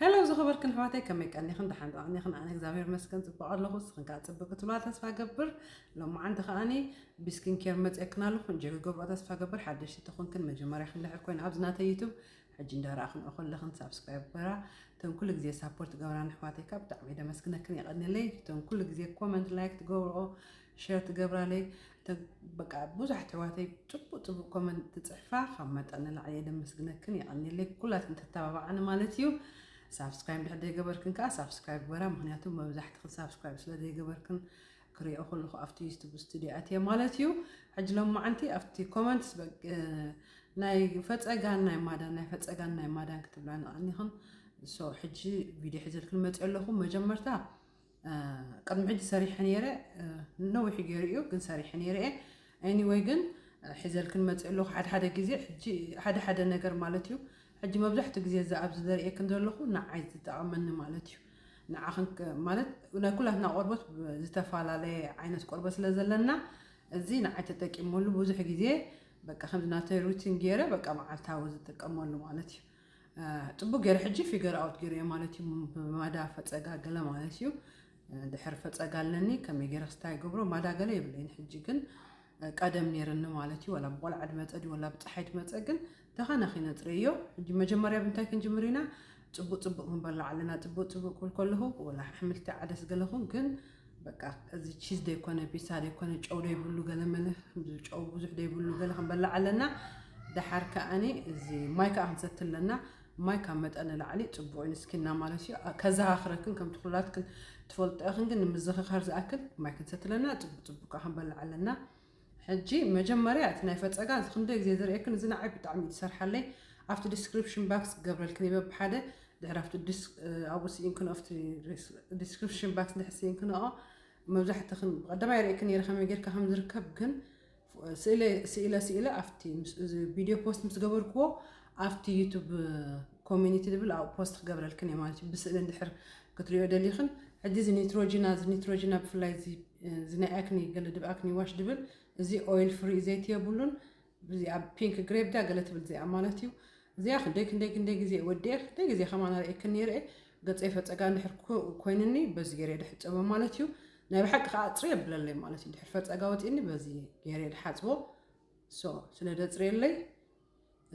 ሄሎ ዝኸበርክን ኣሕዋተይ ከመይ ቀኒኽን ደሓን ዶ ኣኒኽን ኣነ እግዚኣብሔር መስገን ጽቡቕ ኣለኹ ስኽን ከዓ ጽብቅ ክትብላ ተስፋ ገብር ሎማዓንቲ ከዓኒ ብስኪን ኬር መፅኤክን ኣለኹ እንጆ ክገብሮ ተስፋ ገብር ሓደሽቲ ተኾንክን መጀመርያ ክንድሕር ኮይን ኣብዚ ናተይ ዩቱብ ሕጂ እንዳረኣኽን ኦኸለኽን ሳብስክራይብ በራ እተን ኩሉ ግዜ ሳፖርት ገብራን ኣሕዋተይ ከዓ ብጣዕሚ ደመስግነክን የቐኒለይ እተን ኩሉ ግዜ ኮመንት ላይክ ትገብርኦ ሸር ትገብራለይ እተ በቃ ብዙሕ ኣሕዋተይ ጽቡቅ ጽቡቅ ኮመንት ትጽሕፋ ካብ መጠን ንላዕሊ እየ ደመስግነክን የቀኒለይ ኩላትክን ተተባባዓኒ ማለት እዩ ሳብስክራይብ ድሕር ዘይገበርክን ከዓ ሳብስክራይብ ግበራ ምክንያቱ መብዛሕትክን ሳብስክራይብ ስለ ዘይገበርክን ክሪኦ ከለኹ ኣብቲ ዩቱብ ስቱድዮ ኣትየ ማለት እዩ ሕጂ ሎም መዓንቲ ኣብቲ ኮመንትስ ናይ ፈፀጋን ናይ ማዳን ናይ ፈፀጋን ናይ ማዳን ክትብላ ንቐኒኽን ሶ ሕጂ ቪድዮ ሕዘልክን መፅኦ ኣለኹ መጀመርታ ቅድሚ ሕጂ ሰሪሐ ነይረ ነዊሑ ገይሩ እዩ ግን ሰሪሐ ነይረ እየ ኤኒወይ ግን ሒዘልክን መፅእ ኣለኹ ሓደ ሓደ ግዜ ሕጂ ሓደ ሓደ ነገር ማለት እዩ ሕጂ መብዛሕትኡ ግዜ እዚ ኣብዚ ዘርእየክን ዘለኹ ንዓይ ዝጠቐመኒ ማለት እዩ ንዓኽን ማለት ናይ ኩላትና ቆርበት ዝተፈላለየ ዓይነት ቆርበት ስለ ዘለና እዚ ንዓይ ተጠቂመሉ ብዙሕ ግዜ በቃ ከምዚ ናተይ ሩቲን ገይረ በቃ መዓልታዊ ዝጥቀመሉ ማለት እዩ ጽቡቅ ገይረ ሕጂ ፊገር ኣውት ገይረዮ ማለት እዩ ብማዳ ፈጸጋ ገለ ማለት እዩ ድሕር ፈጸጋ ኣለኒ ከመይ ገይረ ክስታ ይገብሮ ማዳ ገለ የብለይን ሕጂ ግን ቀደም ነይርኒ ማለት እዩ ወላ ብቆልዓ ድመጸ ድዩ ወላ ብፀሓይ ድመጸ ግን ደኻና ኺነጽረዮ ሕጂ መጀመርያ ብንታይ ክንጅምር ኢና ጽቡቅ ጽቡቅ ክንበላ ኣለና ጽቡቅ ጽቡቅ ክብል ከለኹ ወላ ኣሕምልቲ ዓደስ ገለኹ ግን በቃ እዚ ቺዝ ዘይኮነ ፒሳ ዘይኮነ ጨው ዘይብሉ ገለመለ ጨው ብዙሕ ዘይብሉ ገለ ክንበላዕ ኣለና ደሓር ከዓኒ እዚ ማይ ከዓ ክንሰቲ ኣለና ማይ ካብ መጠን ንላዕሊ ፅቡቅ እዩ ንስኪና ማለት እዩ ከዘኻኽረክን ከምቲ ኩላትክን ትፈልጦ ኢኽን ግን ንምዝኽኻር ዝኣክል ማይ ክንሰቲ ኣለና ፅቡቅ ፅቡቅ ከዓ ክንበላዕ ኣለና ሕጂ መጀመርያ እቲ ናይ ፈጸጋ እዚ ክንደይ ግዜ ዝርእየክን እዚ ንዓይ ብጣዕሚ እዩ ዝሰርሓለይ ኣብቲ ዲስክሪፕሽን ባክስ ክገብረልክን እየ በብሓደ ድሕሪ ኣብቲ ኣብኡ ስኢንክንኦ ኣብቲ ዲስክሪፕሽን ባክስ ድሕሪ ስኢንክንኦ መብዛሕትኽን ብቀዳማይ ርእየክን ነይረ ከመይ ጌርካ ከም ዝርከብ ግን ስኢለ ስኢለ ኣብቲ እዚ ቪድዮ ፖስት ምስ ገበርክዎ ኣብቲ ዩቱብ ኮሚኒቲ ዝብል ኣብኡ ፖስት ክገብረልክን እየ ማለት እዩ ብስእሊ እንድሕር ክትሪኦ ደሊኽን ሕጂ እዚ ኒትሮጂና እዚ ኒትሮጂና ብፍላይ እዚ እዚ ናይ ኣክኒ ገለ ድብ ኣክኒ ዋሽ ድብል እዚ ኦይል ፍሪ ዘይቲ የብሉን እዚ ኣብ ፒንክ ግሬፕ ዳ ገለ ትብል እዚኣ ማለት እዩ እዚኣ ክንደይ ክንደይ ክንደይ ግዜ ወዲኤ ክንደይ ግዜ ከማን ኣርእየክን ነይረ ገፀይ ፈፀጋ እንድሕር ኮይንኒ በዚ ገይረ ድሕፀቦ ማለት እዩ ናይ ብሓቂ ከዓ ኣፅሪ የብለለይ ማለት እዩ ድሕር ፈፀጋ ወፂኒ በዚ ገይረ ድሓፅቦ ሶ ስለ ደፅርየለይ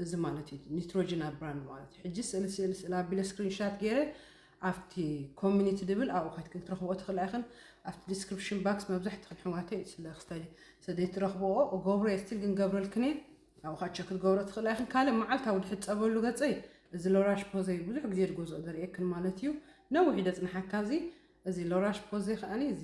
እዚ ማለት እዩ ኒትሮጅን ኣብ ብራንድ ማለት እዩ ሕጂ ስእሊ ስእሊ ስእሊ ኣቢለ ስክሪንሻት ገይረ ኣብቲ ኮሚኒቲ ድብል ኣብኡ ከትክን ክትረኽብኦ ትኽእላ ኢኽን ኣብቲ ዲስክሪፕሽን ባክስ መብዛሕትኽን ኣሕዋተይ ስለ ክስታይ ስለዘይትረኽብኦ እገብሮ እየ ስቲል ግን ገብረልክን እየ ኣብኡ ካቸ ክትገብሮ ትኽእላ ኢኽን ካልእ መዓልታዊ ድሕፀበሉ ገፀይ እዚ ሎራሽ ፖዘይ ብዙሕ ግዜ ድገዝኦ ደርእየክን ማለት እዩ ነዊሕ ደፅንሓካ እዚ እዚ ሎራሽ ፖዘይ ከዓኒ እዚ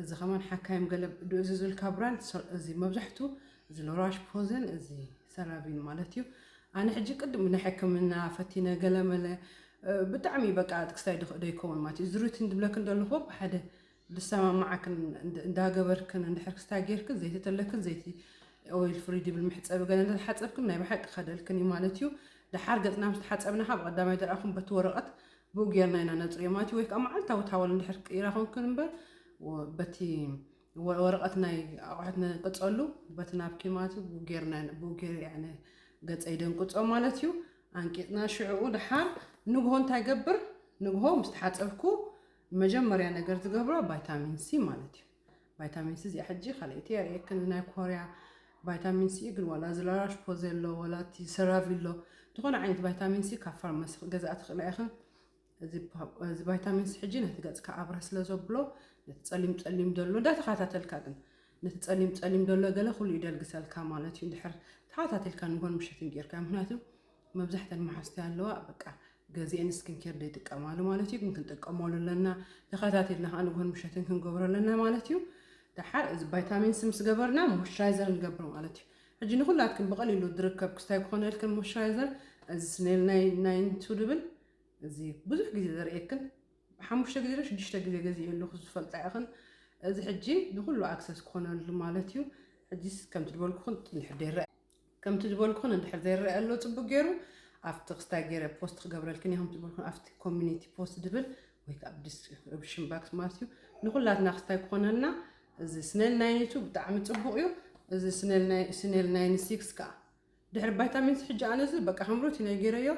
እዚ ከማን ሓካይም ገለ ዶ እዚ ዝልካ ብራንድ እዚ መብዛሕቱ እዚ ሎራሽ ፖዘን እዚ ሰራቪን ማለት እዩ ኣነ ሕጂ ቅድም ናይ ሕክምና ፈቲነ ገለመለ ብጣዕሚ በቃ ጥቅስታይ ድክእ ዶ ይከውን ማለት እዩ ዝሩትን ድብለክን ደለኹ ብሓደ ድሰማማዓክን እንዳገበርክን እንድሕር ክስታይ ጌርክን ዘይቲ ተለክን ዘይቲ ኦይል ፍሪ ድብል መሕፀቢ ገለ እንተተሓፀብክን ናይ ብሓቂ ከደልክን እዩ ማለት እዩ ደሓር ገፅና ምስ ተሓፀብና ካብ ቀዳማይ ደርኣኹም በቲ ወረቐት ብኡ ጌርና ኢና ነጽርዮ ማለት እዩ። ወይ ከኣ መዓልታዊ ታወል እንድሕር ቀይራ ኮንክን እምበር በቲ ወረቐት ናይ ኣቑሑት ንቅጸሉ በቲ ናብኪ ማለት እዩ። ብኡ ጌርና ብኡ ጌር ያዕኒ ገጸይ ደንቅጾ ማለት እዩ። ኣንቂጽና ሽዕኡ ድሓር ንግሆ እንታይ ገብር ንግሆ ምስ ተሓጸብኩ መጀመርያ ነገር ዝገብሮ ቫይታሚን ሲ ማለት እዩ። ቫይታሚን ሲ እዚኣ ሕጂ ካልኣይቲ የርእየክን ናይ ኮርያ ቫይታሚን ሲ እዩ ግን ዋላ እዚ ላራሽ ፖዘሎ ዋላ እቲ ሰራቪሎ ዝኾነ ዓይነት ቫይታሚን ሲ ካብ ፋርማሲ ክትገዝኣ ትኽእላ ኢኽን እዚ ቫይታሚን ሲ ሕጂ ነቲ ገጽካ ኣብረህ ስለ ዘብሎ ነቲ ጸሊም ጸሊም ደሎ እንዳተኸታተልካ ግን ነቲ ጸሊም ጸሊም ደሎ ገለ ኩሉ ይደልግሰልካ ማለት እዩ እንድሕር ተኸታተልካ ንጎን ምሸትን ጌርካ ምክንያቱ መብዛሕተን መሓዝቲ ኣለዋ በቃ ገዚኤን ስኪን ኬር ዘይጥቀማሉ ማለት እዩ ግን ክንጥቀመሉ ኣለና ተኸታቲልና ከዓ ንግሆን ምሸትን ክንገብሮ ኣለና ማለት እዩ ደሓር እዚ ቫይታሚንስ ምስ ገበርና ሞይስቸራይዘር ንገብር ማለት እዩ ሕጂ ንኩላትክን ብቐሊሉ ዝርከብ ክስታይ ክኾነልክን ሞይስቸራይዘር እዚ ስኔል ናይ ናይንቱ ድብል እዚ ብዙሕ ግዜ ዘርእየክን ሓሙሽተ ግዜ ዶ ሽዱሽተ ግዜ ገዚኡ ኣለኹ ዝፈልጣ ኢኽን እዚ ሕጂ ንኩሉ ኣክሰስ ክኾነሉ ማለት እዩ ሕጂስ ከምቲ ዝበልኩኽን ንድሕር ደይረአ ከምቲ ዝበልኩኽን እንድሕር ዘይረኣ ኣሎ ጽቡቅ ጌሩ ኣብቲ ክስታይ ጌረ ፖስት ክገብረልክን እየ ከምቲ ዝበልኩን ኣብቲ ኮሚኒቲ ፖስት ድብል ወይ ከኣ ብዲስ ርብሽን ባክስ ማለት እዩ ንኩላትና ክስታይ ክኾነና እዚ ስነል ናይን ቱ ብጣዕሚ ጽቡቅ እዩ እዚ ስነል ናይን ስነል ናይን ሲክስ ከኣ ድሕሪ ቫይታሚንስ ሕጂ ኣነዚ በቃ ከም ሩቲን ጌረዮ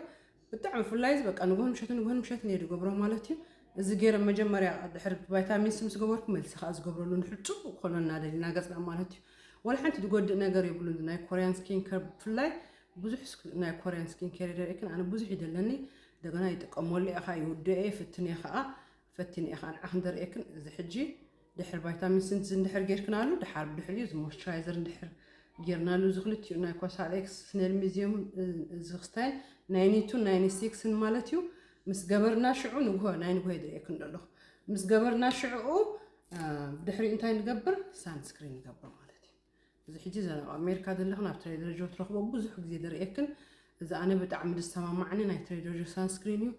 ብጣዕሚ ፍላይት በቃ ንጉህን ምሸትን ንጉህን ምሸትን እየ ድገብሮ ማለት እዩ እዚ ገይረ መጀመርያ ድሕሪ ቫይታሚን ሲ ምስ ገበርኩ መልሲ ከዓ ዝገብረሉ ንድሕሪ ፅቡቅ ኮነ እናደሊ እናገፅና ማለት እዩ ወላ ሓንቲ ዝጎድእ ነገር የብሉን ናይ ኮርያን ስኪን ከር ብፍላይ ብዙሕ ናይ ኮርያን ስኪን ኬር ይደርእክን ኣነ ብዙሕ ይደለኒ እንደገና ይጥቀመሉ እየ ከዓ ይውድኦ እየ ፍትንየ ከዓ ፈቲነዮ ከኣ ንዓክን ደርእየክን እዚ ሕጂ ድሕሪ ቫይታሚን ሲ ን እንድሕር ጌርክናሉ ድሓር ብድሕሪኡ እዚ ሞይስቸራይዘር እንድሕር ጌርናሉ እዚ ክልቲኡ ናይ ኮሳሬክስ ስኔል ሚዚየም እዚ ክስታይን ናይ ኒቱን ናይ ኒሲክስን ማለት እዩ ምስ ገበርና ሽዑ ንግሆ ናይ ንግሆ ይድርእየክን ደለኹ ምስ ገበርና ሽዑኡ ድሕሪኡ እንታይ ንገብር ሳንስክሪን ንገብር ማለት እዩ እዚ ሕጂ እዛ ኣብ ኣሜሪካ ዘለኽን ኣብ ትሬደር ጆ ትረኽቦ ብዙሕ ግዜ ዝርእየክን እዚ ኣነ ብጣዕሚ ዝሰማማዓኒ ናይ ትሬደር ጆ ሳንስክሪን እዩ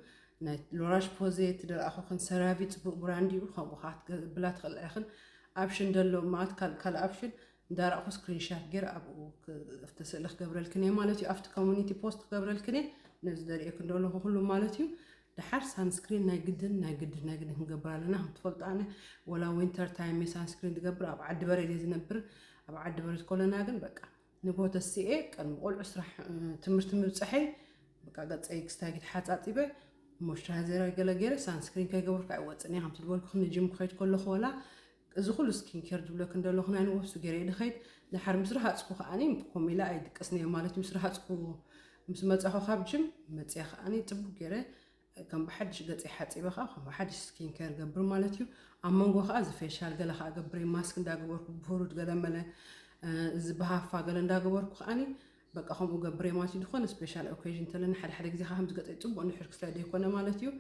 ናይ ሎራሽ ፖዜ ትደርኣኹክን ሰራቪ ጽቡቅ ብራንድ እዩ ከምኡ ከኣ ክትገብላ ትኽእላ ኢኽን ኣብሽን ደሎ ማት ካል ካል ኣብሽን እንዳራእኹ ስክሪንሻት ጌር ኣብኡ ኣብቲ ስእሊ ክገብረልክን እየ ማለት እዩ ኣብቲ ኮሚኒቲ ፖስት ክገብረልክን እየ ነዚ ደርእየክን ደለኹ ኩሉ ማለት እዩ ደሓር ሳንስክሪን ናይ ግድን ናይ ግድን ናይ ግድን ክንገብር ኣለና ከም ትፈልጡ ኣነ ወላ ዊንተር ታይም እየ ሳንስክሪን ዝገብር ኣብ ዓዲ በረድ እየ ዝነብር ኣብ ዓዲ በረድ ኮለና ግን በቃ ንግሆ ተስኤ ቀድሚ ቆልዑ ስራሕ ትምህርቲ ምብፅሐይ በቃ ገፀይ ክስታይ ተሓፃፂበ ሞይስቸራይዘር ገለ ገይረ ሳንስክሪን ከይገብርካ ኣይወፅን እየ ከምቲ ዝበልኩ ንጅም ክኸይድ ከለኹ ወላ እዚ ኩሉ ስኪን ኬር ዝብለኪ እንደለኩ ናይ ንወብሱ ገይረ'የ ድከይድ ደሓር ምስ ረሃጽኩ ከኣኒ ኮም ኢለ ኣይድቅስን'የ ማለት ምስ ረሃጽኩ ምስ መጻኩ ካብ ጅም መጽየ ከኣኒ ጽቡቅ ገይረ ከም ብሓድሽ ገጸይ ሓጺበ ከኣ ከም ብሓድሽ ስኪን ኬር ገብር ማለት እዩ ኣብ መንጎ ከኣ እዚ ፌሻል ገለ ከኣ ገብረይ ማስክ እንዳገበርኩ ብሁሩድ ገለ መለ እዚ ብሃፋ ገለ እንዳገበርኩ ከኣኒ በቃ ከምኡ ገብረይ ማለት እዩ ዝኾነ ስፔሻል ኦኬዥን ተለኒ ሓደ ሓደ ግዜ ከኣ ከምዚ ገጸይ ጽቡቅ ንሕር ክስለ ዘይኮነ ማለት እዩ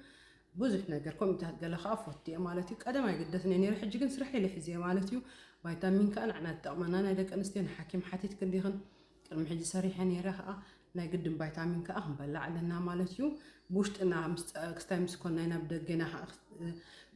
ብዙሕ ነገር ኮሚታት ገለ ከኣ ፎቲ እየ ማለት እዩ ቀደም ኣይግደስን እየ ነይረ ሕጂ ግን ስራሕ ኢለ ሒዘ ማለት እዩ ቫይታሚን ከኣ ንዕና ትጠቅመና ናይ ደቂ ኣንስትዮ ንሓኪም ሓቲትክ እንዲኽን ቅድሚ ሕጂ ሰሪሐ ነይረ ከኣ ናይ ግድን ቫይታሚን ከኣ ክንበላዕ ኣለና ማለት እዩ ብውሽጥና ክስታይ ምስ ኮናይ ናብ ደገና ከኣ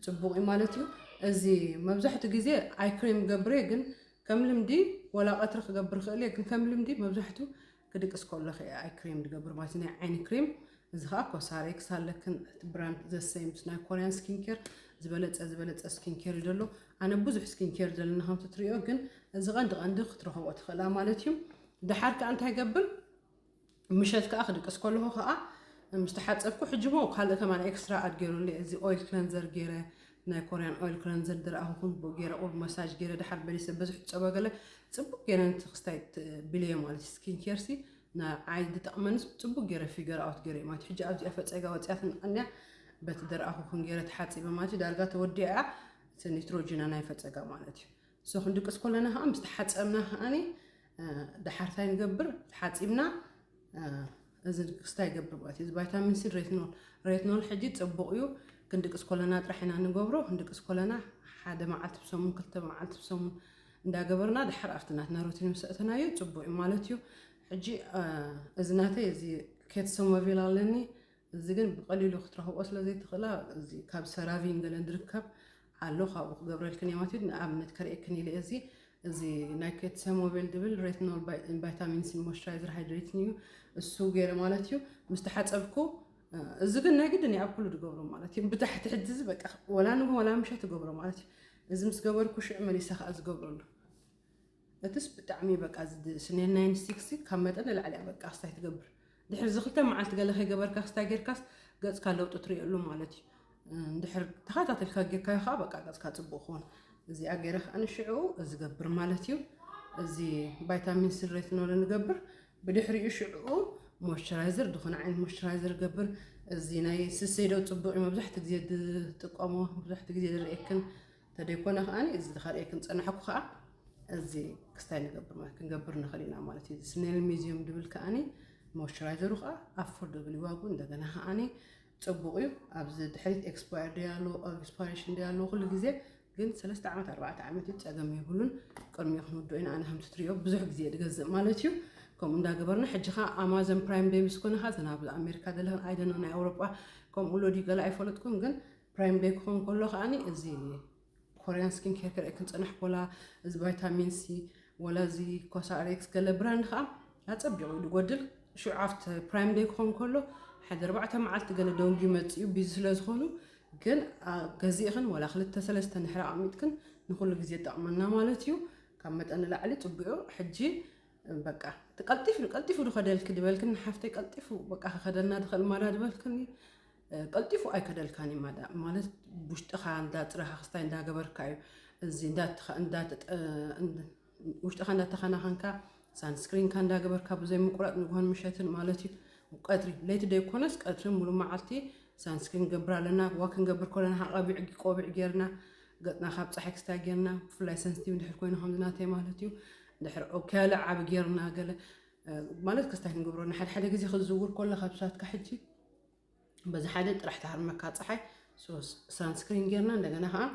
ፅቡቅ እዩ ማለት እዩ እዚ መብዛሕትኡ ግዜ ኣይክሬም ገብሬ ግን ከም ልምዲ ወላ ቀትሪ ክገብር ክእል እየ ግን ከም ልምዲ መብዛሕትኡ ክድቅስ ከሎኺ እየ ኣይ ክሬም ዝገብር ማለት ናይ ዓይኒ ክሬም እዚ ከዓ ኮሳሬክስ ኣለክን እቲ ብራንድ ዘሰይ ምስ ናይ ኮርያን ስኪን ኬር ዝበለፀ ዝበለፀ ስኪን ኬር እዩ ዘሎ ኣነ ብዙሕ ስኪን ኬር ዘለና ከምቲ ትሪኦ ግን እዚ ቀንዲ ቀንዲ ክትረኽቦ ትኽእላ ማለት እዩ ድሓር ከዓ እንታይ ገብር ምሸት ከዓ ክድቅስ ከለኹ ከዓ ምስ ተሓፀብኩ ሕጂ ሞ ካልእ ከማን ኤክስትራ ኣድ ገይሩለ እዚ ኦይል ክለንዘር ገይረ ናይ ኮርያን ኦይል ክለንዘር ድረኣኹኹን ብኡ ገይረ ቁሩብ መሳጅ ገይረ ድሓር በሊሰ በዝሑ ጸባ ገለ ጽቡቅ ገይረ ነቲ ክስታይ ብልየ ማለት ስኪን ኬር ሲ ንዓይ ድጠቅመንስ ጽቡቅ ገይረ ፊገር ኣውት ገይረ ማለት ሕጂ ኣብዚኣ ፈጸጋ ወጽያትን ኣንያ በቲ ድረኣኹኹን ገይረ ተሓጺበ ማለት ዳርጋ ተወዲኣ እቲ ኒትሮጂና ናይ ፈጸጋ ማለት እዩ So ክንድቅስ ከለና ከኣ ምስ ተሓጸብና ከኣ ደሓር እንታይ ንገብር ተሓጺብና እዚ ክስታይ ይገብር ማለት እዩ እዚ ቫይታሚን ሲ ሬትኖል ሬትኖል ሕጂ ጽቡቕ እዩ ክንድቅስ ኮለና ጥራሕ ኢና ንገብሮ ክንድቅስ ኮለና ሓደ መዓልቲ ብሰሙን ክልተ መዓልቲ ብሰሙን እንዳገበርና ድሓር ኣብቲ ናትና ሩቲን ምስ ኣእተናዮ ጽቡቕ እዩ ማለት እዩ ሕጂ እዚ ናተይ እዚ ኬት ሶሞቪል ኣለኒ እዚ ግን ብቐሊሉ ክትረኽቦ ስለ ዘይትኽእላ እዚ ካብ ሰራቪን ገለን ዝርከብ ኣሎ ካብኡ ክገብረልክን እየ ማለት እዩ ንኣብነት ከርእየክን ኢለ እዚ እዚ ናይ ኬትሰ ሞቤል ድብል ሬትኖል ቫይታሚንስን ሞይስቸራይዘር ሃይድሬትን እዩ እሱ ገይረ ማለት እዩ ምስ ተሓፀብኩ እዚ ግን ናይ ግድን ኣብ ኩሉ ትገብሮ ማለት እዩ ብታሕቲ ሕጂ እዚ በቃ ወላ ንጉ ወላ ምሸት ትገብሮ ማለት እዩ እዚ ምስ ገበርኩ ሽዑ መሊሰ ከዓ ዝገብረሉ እትስ ብጣዕሚ በቃ ስኔል ናይ ንስቲክሲ ካብ መጠን ንላዕሊ እያ በቃ ክስታይ ትገብር ድሕሪ እዚ ክልተ መዓልቲ ገለ ከይገበርካ ክስታይ ጌርካስ ገጽካ ለውጢ ትሪእሉ ማለት እዩ እንድሕር ተኸታተልካ ጌርካዮ ከዓ በቃ ገጽካ ጽቡቅ ክኾን እዚኣ ገይረ ከዓ ንሽዑ እዚ ገብር ማለት እዩ እዚ ቫይታሚን ሲ ሬትኖል ንገብር ብድሕሪኡ ሽዑኡ ሞይስቸራይዘር ዝኾነ ዓይነት ሞይስቸራይዘር ገብር እዚ ናይ ስሰይዶ ጽቡቅ እዩ መብዛሕትኡ ግዜ ዝጥቀሞ መብዛሕትኡ ግዜ ዝርእየክን እንተደይኮነ ከኣ እዚ ዝኸርእየክን ዝጸናሕኩ ከኣ እዚ ክስታይ ንገብር ማለት ክንገብር ንኽእል ኢና ማለት እዩ። ስኔል ሚዚዩም ድብል ከኣ ሞይስቸራይዘሩ ከኣ ኣፎርደብል እዩ ዋግኡ እንደገና ከኣ ጽቡቕ እዩ። ኣብዚ ድሕሪት ኤክስፓየር ደይ ኣለዎ ኤክስፓይሬሽን ደይ ኣለዎ ኩሉ ግዜ ግን ሰለስተ ዓመት ኣርባዕተ ዓመት እዩ ጸገም የብሉን። ቅድሚ ክንውድኦ ኢና ኣነ ከምቲ ትሪኦ ብዙሕ ግዜ ድገዝእ ማለት እዩ። ከምኡ እንዳገበርና ሕጂ ከ ኣማዞን ፕራይም ደይ ምስ ኮነ ከ ዘናብ ኣሜሪካ ዘለኽን ኣይደነ ናይ ኣውሮጳ ከምኡ ሎዲ ገለ ኣይፈለጥኩን ግን ፕራይም ደይ ክኾን ከሎ ከኣ እዚ ኮርያን ስኪን ኬር ክርኢ ክንፅንሕ ኮላ እዚ ቫይታሚን ሲ ወላ እዚ ኮሳሬክስ ገለ ብራንድ ከዓ ኣፀቢቑ እዩ ዝጎድል ሽዑ ኣብቲ ፕራይም ደይ ክኾን ከሎ ሓደ ኣርባዕተ መዓልቲ ገለ ደንጉ ይመፅእ እዩ ቢዚ ስለ ዝኾኑ ግን ገዚእኽን ወላ ክልተ ሰለስተ ንሕሪ ኣቕሚጥክን ንኩሉ ግዜ ጠቕመና ማለት እዩ ካብ መጠን ንላዕሊ ፅቡዑ ሕጂ በቃ ቀልጢፉ ቀልጢፉ ድኸደልኪ ድበልክኒ ሓፍተይ ቀልጢፉ በቃ ክኸደና ድኽእል ማዳ ድበልክኒ ቀልጢፉ ኣይከደልካን እዩ ማዳ ማለት ውሽጥኻ እንዳፅረኻ ክስታይ እንዳገበርካ እዩ እዚ ውሽጥኻ እንዳተኸናኸንካ ሳንስክሪንካ እንዳገበርካ ብዘይ ምቁራፅ ንግሆን ምሸትን ማለት እዩ ቀትሪ ለይቲ ዘይኮነስ ቀትሪ ሙሉእ መዓልቲ ሳንስክሪን ገብር ኣለና ዋ ክንገብር ከለና ሃቐቢዕ ቆቢዕ ጌርና ገፅና ካብ ፀሓይ ክስታይ ጌርና ብፍላይ ሰንስቲቭ ድሕር ኮይኑ ከምዝናተይ ማለት እዩ ድሕር ኦኬያለ ዓብ ጌርና ገለ ማለት ክስታይ ክንገብሮ ንሓደሓደ ግዜ ክትዝውር ከለካ ብሳትካ ሕጂ በዚ ሓደ ጥራሕ ትሃርመካ ፀሓይ ሳንስክሪን ጌርና እንደገና ከዓ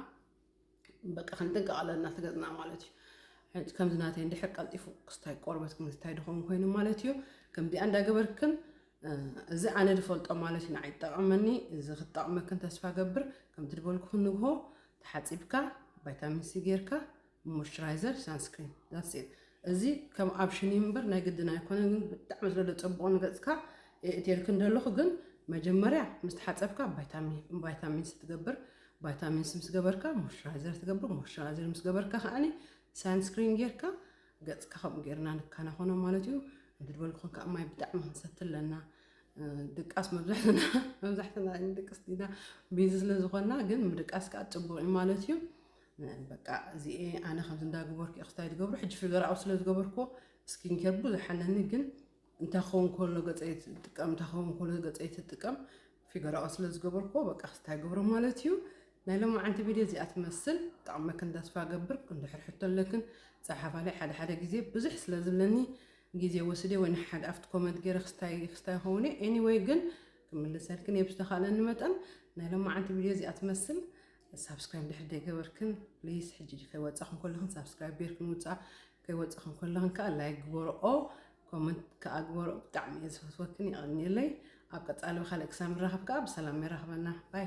በቃ ክንጥንቀቕ ኣለና ትገፅና ማለት እዩ ከምዚ ናተይ እንድሕር ቀልጢፉ ክስታይ ቆርበት ክምታይ ድኸውን ኮይኑ ማለት እዩ ከምዚኣ እንዳገበርክን እዚ ኣነ ዝፈልጦ ማለት እዩ ንዓይ ጠቐመኒ እዚ ክጠቕመክን ተስፋ ገብር ከምቲ ዝበልኩ ክንግሆ ተሓፂብካ ቫይታሚን ሲ ጌርካ ሞይስቸራይዘር ሳንስክሪን ዳትስ ኢት እዚ ከም ኣብሽን እዩ እምበር ናይ ግድን ኣይኮነን ግን ብጣዕሚ ስለ ዘጸብቆ ንገጽካ የእትየልክ እንደለኹ ግን መጀመርያ ምስ ተሓጸብካ ቫይታሚን ቫይታሚንስ ትገብር ቫይታሚንስ ምስ ገበርካ ሞይስቸራይዘር ትገብር ሞይስቸራይዘር ምስ ገበርካ ከዓኒ ሳንስክሪን ጌርካ ገጽካ ከምኡ ጌርና ንከናኸኖ ማለት እዩ እንድበል ክኾን ከዓ ማይ ብጣዕሚ ክንሰቲ ኣለና ድቃስ መብዛሕትና መብዛሕትና ድቅስ ዲና ቢዚ ስለ ዝኾንና ግን ምድቃስ ከዓ ፅቡቅ እዩ ማለት እዩ በቃ እዚኤ ኣነ ከምዚ እንዳገበርኩ ክስታይ ዝገብሮ ሕጂ ፍገራዊ ስለ ዝገበርኩዎ ስኪን ኬር ብዙሕ ኣለኒ ግን እንታይ ክኸውን ከሎ ገፀይ ትጥቀም እንታይ ክኸውን ከሎ ገፀይ ትጥቀም ፊገራኦ ስለ ዝገበርኩዎ በቃ ክስታይ ገብሮ ማለት እዩ ናይ ሎማዓንቲ ቪድዮ እዚኣ ትመስል ጠቕመክን ተስፋ ገብር እንድሕር ሕቶ ኣለክን ፀሓፋለይ ሓደ ሓደ ግዜ ብዙሕ ስለ ዝብለኒ ግዜ ወስደ ወይ ንሓደ ኣብቲ ኮመንት ገይረ ክስታይ ክስታይ ይኸውን እዩ ኤኒወይ ግን ክምልሰልክን እየ ብዝተኻእለኒ መጠን ናይ ሎማዓንቲ ቪድዮ እዚኣ ትመስል ሳብስክራይብ ድሕሪ ደይገበርክን ፕሊስ ሕጂ ከይወፃኽን ከለኽን ሳብስክራይብ ጌርክን ውፃእ ከይወፃኽን ከለኽን ከዓ ላይክ ግበርኦ ኮመንት ከዓ ግበርኦ ብጣዕሚ እየ ዝፈትወክን የቐንየለይ ኣብ ቀፃሊ ብካልእ ክሳብ ንራኸብ ከዓ ብሰላም የራኽበና ባይ